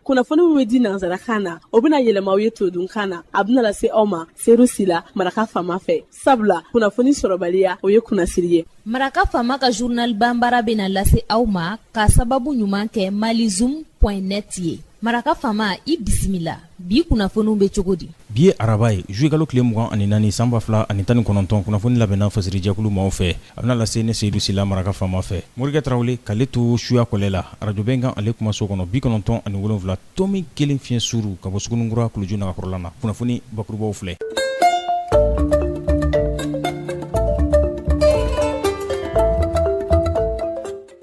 kunnafoni min bɛ di nanzarakan na o bɛna yɛlɛma aw ye todunkan na a bɛna lase aw ma seyidu sila maraka faama fɛ sabula kunnafoni sɔrɔbaliya o ye kunnasiri ye maraka faama ka zurnal banbara bɛna lase aw ma k'a sababu ɲuman kɛ malizum point net ye maraka faama i bisimila bi kunnafoniw bɛ cogo di bi ye araba ye zuluyekalo tile mugan ani naani san ba fila ani tan ni kɔnɔntɔn kunnafoni labɛnna fasirijɛkulu maaw fɛ a bɛna lase ne seyidu sila maraka faama fɛ morikɛ tarawele k'ale to suya kɔlɛ la arajo bɛnkan ale kumaso kɔnɔ bi kɔnɔntɔn ani wolonwula tomi kelen fiɲɛ suuru ka bɔ suguninkura kuluju nagakɔrɔla na kunnafoni bakurubaw filɛ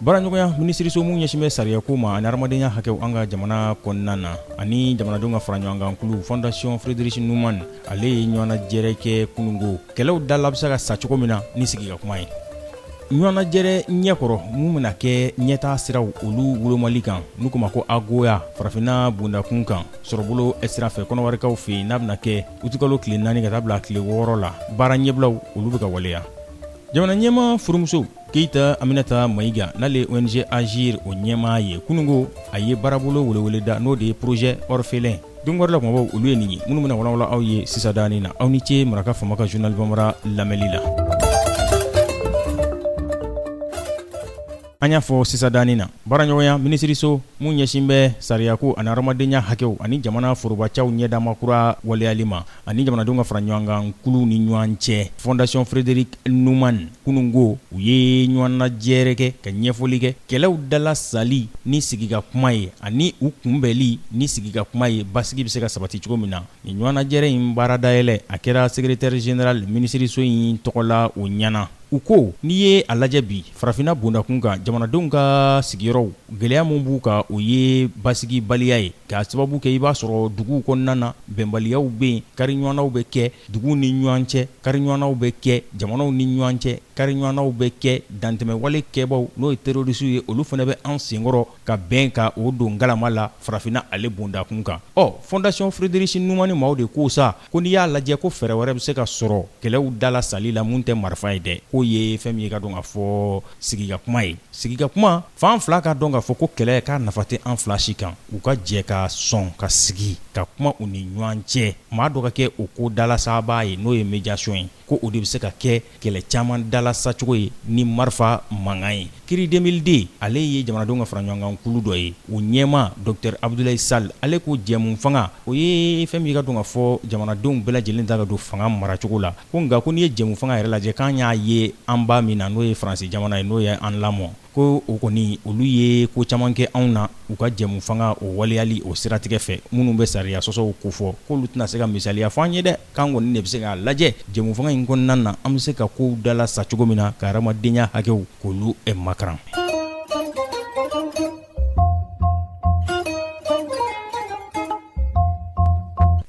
baaraɲɔgɔnya minisiriso min ɲɛsin bɛ sariyako ma ani hadamadenya hakɛw an ka jamana kɔnɔna na ani jamanadenw ka faraɲɔgɔnkan kulu fondation friedrich naumann ale ye ɲɔgɔnnajɛrɛ kɛ kunungo kɛlɛw dala bɛ se ka sa cogo min na ni sigi ka kuma ye ɲɔgɔnnajɛrɛ ɲɛkɔrɔ min bɛna kɛ ɲɛtaa siraw olu wolomali kan n'u k'o ma ko agoa farafinna bondakun kan sɔrɔbolo sira fɛ kɔnɔwarikaw fɛ yen n'a bɛna kɛ utikalo tile naani ka taa bila tile wɔɔrɔ la baara ɲɛbilaw olu bɛ ka waleya jamana ɲɛmaa furumuso keyita aminata mayiga n'ale ye ong agir o ɲɛmaa ye kunungo a ye baarabolo weleweleda n'o de ye porozɛ orphelin don wɛrɛ la kumabaw olu ye nin ye minnu bɛna walawala aw ye sisan danin na aw ni ce maraka faama ka journal banbara lamɛnli la an y'a fɔ sisan danin na baaraɲɔgɔnya minisiriso min ɲɛsin bɛ sariyako ani hadamadenya hakɛw ani jamana forobacaw ɲɛdama kura waleyali ma ani jamanadenw ka fara ɲɔgɔn kan kulu ni ɲɔgɔn cɛ fondation friedrich naumann Kununko u ye ɲɔgɔnnajɛrɛ kɛ ka ɲɛfɔli kɛ kɛlɛw dalasali ni sigi ka kuma ye ani u kunbɛnli ni sigi ka kuma ye basigi bɛ se ka sabati cogo min na. Nin ɲɔgɔnnajɛrɛ in baara dayɛlɛ a kɛra sekeretɛri zenerali minisiriso in tɔgɔ la o ɲɛna. U ko n'i ye a lajɛ bi farafinna bondakun kan jamanadenw ka sigiyɔrɔw gɛlɛya min b'u kan o ye basigibaliya ye, k'a sababu kɛ i b'a sɔrɔ duguw kɔnɔna na bɛnbaliyaw bɛ yen, kariɲɔgɔnnaw bɛ kɛ duguw ni ɲɔgɔn cɛ. Kariɲɔgɔnnaw bɛ kɛ jamanaw ni ɲɔgɔn cɛ, kariɲɔgɔnnaw bɛ kɛ dantɛmɛwale kɛbaaw n'o ye terroristes ye, olu fana bɛ an senkɔrɔ ka bɛn ka o don ngalama la farafinna ale bondakun kan. Ɔ Fondation Friedrich Naumann maaw de ko sa, ko n'i y'a lajɛ ko fɛɛrɛ wɛrɛ bɛ se ka sɔrɔ kɛlɛw dalasali la min tɛ marifa ye dɛ, k'o ye fɛn min ye i k'a dɔn k'a fɔ sigikakuma ye. Sigikakuma, fan fila k'a dɔn k'a fɔ ko kɛlɛ k'a nafa tɛ an fila si kan, u ka jɛ ka sɔn ka sigi ka kuma u ni ɲɔgɔn cɛ. maa dɔ ka kɛ o ko dalasabaa ye n'o ye médiation ye ko o de bɛ se ka kɛ kɛlɛ caman dalasacogo ye ni marifa mankan ye CRI 2002 ale ye jamanadenw ka faraɲɔgɔnkan kulu dɔ ye o ɲɛmaa Docteur Abudulayi Sal ale ko jɛmufanga o ye fɛn min ye i k'a dɔn k'a fɔ jamanadenw bɛɛ lajɛlen da ka don fanga maracogo la ko nka ko n'i ye jɛmufanga yɛrɛ lajɛ k'an y'a ye an ba min na n'o ye faransi jamana ye n'o ye an lamɔ ko o kɔni olu ye ko caman kɛ anw na u ka jɛmu fanga o waleyali o siratigɛ fɛ minnu bɛ sariya sɔsɔw ko fɔ k'olu tɛna se ka misaliya fɔ an ye dɛ k'an kɔni de bɛ se k'a lajɛ jɛmu fanga in kɔnɔna na an bɛ se ka kow dala sa cogo min na ka hadamadenya hakɛw k'olu makaran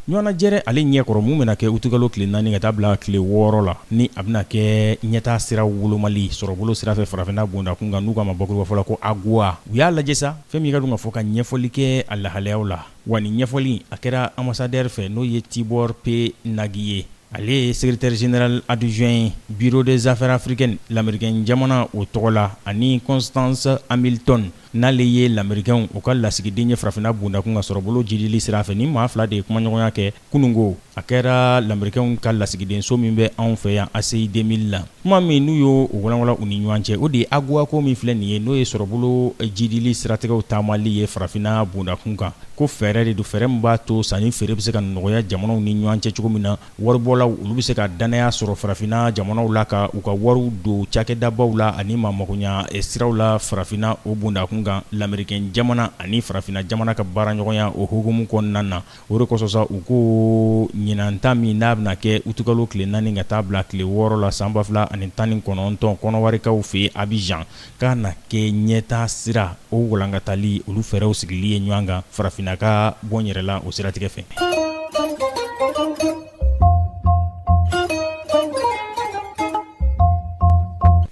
ɲɔgɔnajɛrɛ ale ɲɛkɔrɔ mun bɛna kɛ utukalo tile naani ka taa bila tile wɔɔrɔ la ni a bɛna kɛ ɲɛtaa sira wolomali sɔrɔbolo sira fɛ farafinna bondakun kan n'u k'a ma bakuruba fɔ la ko AGOA u y'a lajɛ sa fɛn min ye k'a dɔn k'a fɔ ka ɲɛfɔli kɛ a lahalayaw la wa nin ɲɛfɔli a kɛra ambassadeur fɛ n'o ye Tibor P Nagy ye ale ye secrétaire général adjoint ye bureau des affaires africaines lamerikɛn jamana o tɔgɔ la ani Constance Hamilton N'ale ye lamerikɛnw u ka lasigiden ye farafinna bondakun ka sɔrɔbolo jidili sira fɛ ni maa fila de ye kumaɲɔgɔnya kɛ kununko a kɛra lamerikɛnw ka lasigidenso min bɛ anw fɛ yan ACI 2000 la kuma min n'u y'o walawala u ni ɲɔgɔn cɛ o de ye AGOA ko min filɛ nin ye n'o ye sɔrɔbolo jidili siratigɛw taamali ye farafinna bondakun kan ko fɛɛrɛ de don fɛɛrɛ min b'a to sanni feere bɛ se ka nɔgɔya jamanaw ni ɲɔgɔn cɛ cogo min na Waribɔlaw olu bɛ se ka dannaya sɔrɔ farafinna jamanaw la ka u ka wariw don cakɛdabaw la ani maa magoya siraw la farafinna o bondakun kan lamerikɛn jamana ani farafinna jamana ka baaraɲɔgɔnya o hukumu kɔnɔna na o de kosɔn sa u ko ɲinanta min n'a bɛna kɛ utukalo tile naani ka taa bila tile wɔɔrɔ la san ba fila ani tan ni kɔnɔntɔn kɔnɔwarikaw fɛ Abidjan K'a na kɛ ɲɛtaa sira o walankatali olu fɛɛrɛw sigili ye ɲɔgɔn kan farafinna ka bɔ n yɛrɛ la o siratigɛ fɛ.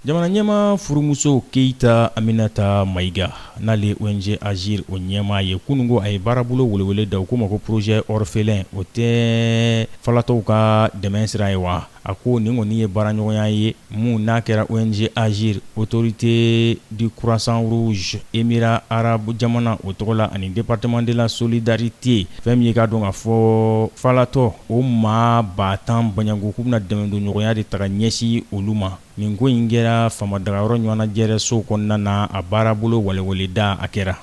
Jamana ɲɛmaa furumuso Keyita Aminata Mayiga n'ale ONG Agir o ɲɛmaa ye kunungo a ye baarabolo welewele da u k'o ma ko projet orphelin o tɛ falatɔw ka dɛmɛn sira ye wa? A ko nin kɔni ye baaraɲɔgɔnya ye mun n'a kɛra ONG Agir autorité du croissant rouge émirat arabe jamana o tɔgɔ la ani département de la solidarité fɛn min ye k'a dɔn k'a fɔ falatɔ o maa ba tan bɔɲɔgɔnko k'u bɛna dɛmɛ don ɲɔgɔnya de taga ɲɛsin olu ma Nin ko in kɛra faamadagayɔrɔ ɲɔgɔnnajɛrɛso kɔnɔna na a baarabolo weleweleda a kɛra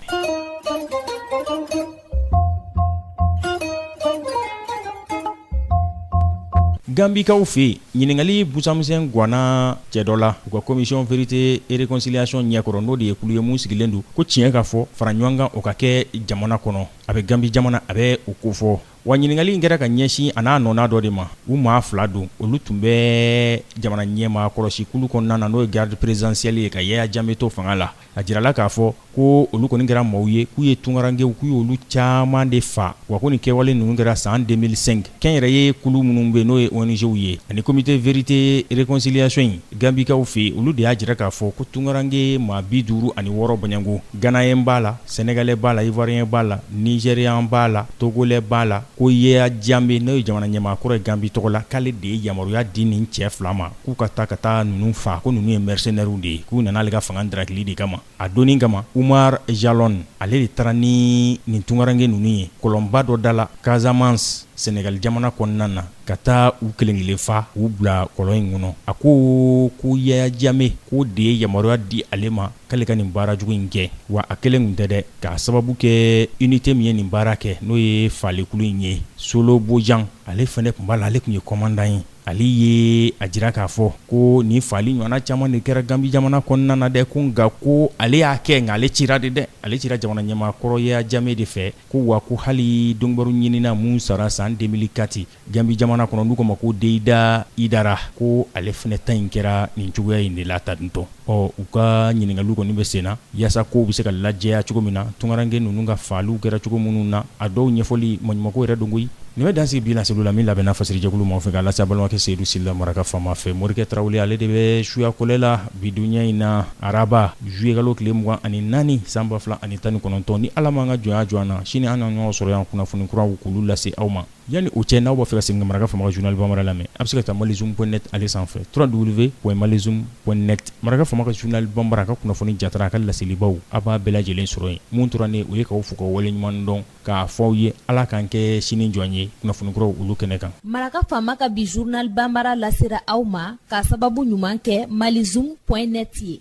ganbikaw fɛ ɲininkali busamisɛn gwanna cɛ dɔ la u ka commission vérité et réconciliation ɲɛkɔrɔ n'o de ye kulu ye mun sigilen don ko tiɲɛ ka fɔ fara ɲɔgɔn kan o ka kɛ jamana kɔnɔ a bɛ ganbi jamana a bɛ o kofɔ Wa ɲininkali in kɛra ka ɲɛsin a n'a nɔna dɔ de ma u maa fila don olu tun bɛ jamana ɲɛmaa kɔlɔsikulu kɔnɔna na n'o ye garde présidentielle ye ka Yaya Jammeh to fanga la a jirala k'a fɔ ko olu kɔni kɛra maaw ye k'u ye tunkarankɛw k'u ye olu caman de faa wa ko nin kɛwale ninnu kɛra san 2005 kɛnyɛrɛye kulu minnu bɛ n'o ye ONGw ye ani comité vérité réconciliation ye Ganbikaw fɛ olu de y'a jira k'a fɔ ko tunkarankɛ maa bi duuru ani wɔɔrɔ bananko ganeyɛn b'a la senegalɛ b'a la iwuwariyɛn b'a la nizeriyan b'a la togolɛ b'a la ko Yaya Jame n'o ye jamana ɲɛmaakɔrɔ ye ganbi tɔgɔ la k'ale de ye yamaruya di nin cɛ fila ma k'u ka taa ka taa ninnu faa ko ninnu ye mɛrisenɛriw de ye k'u nana ale ka fanga darakili de kama A donnin kama Umaru Jalo ale de taara ni nin tunkarankɛ ninnu ye kɔlɔnba dɔ da la kasamansi senegali jamana kɔnɔna na ka taa u kelen kelen faa u bila kɔlɔn in kɔnɔ a ko ko Yaya Jame k'o de ye yamaruya di ale ma k'ale ka nin baara jugu in kɛ wa a kelen tun tɛ dɛ k'a sababu kɛ inite min ye nin baara kɛ n'o ye faalikulu in ye Solo Bojan ale fana tun b'a la ale tun ye komandan ye Ale ye a jira k'a fɔ ko nin faali ɲɔgɔnna caman de kɛra ganbi jamana kɔnɔna na dɛ ko nka ko ale y'a kɛ nka ale cira de dɛ ale cira jamana ɲɛmaakɔrɔ Yaya Jame de fɛ ko wa ko hali donkibaru ɲinina min sara san deux mille quatre ganbi jamana kɔnɔ n'u k'a ma ko Deyida Idara ko ale fana ta in kɛra nin cogoya in de la ta dɔn Ɔ u ka ɲininkaliw kɔni bɛ sen na yaasa kow bɛ se ka lajɛya cogo min na tunkarankɛ ninnu ka faaliw kɛra cogo minnu na a dɔw ɲɛfɔli maɲumanko yɛrɛ don koyi nin bɛ dan sigi bi laseli la min labɛnna fasiri jɛkulu maaw fɛ k'a lase a balimakɛ Seyidu Sila maraka faama fɛ morikɛ tarawele ale de bɛ suya kɔlɛ la bi donya in na araba zuyekalo tile mugan ani naani san ba fila ani tan ni kɔnɔntɔn ni ala m'an ka jɔnya jɔ an na sini an na ɲɔgɔn sɔrɔ yan kunnafoni kuraw k'olu lase aw ma Yanni o cɛ n'aw b'a fɛ ka segin ka maraka faama ka zurunali banbara lamɛn a bɛ se ka taa malizoom point net ale sanfɛ trois w malizoom point net maraka faama ka zurunali banbara ka kunnafoni jatara a ka laselibaw a b'a bɛɛ lajɛlen sɔrɔ yen mun tora ne o ye k'aw fo ka waleɲuman dɔn k'a fɔ aw ye ala k'an kɛ sini jɔn ye kunnafoni kuraw olu kɛnɛ kan maraka faama ka bi zurunali banbara lasera aw ma k'a sababu ɲuman kɛ malizoom point net ye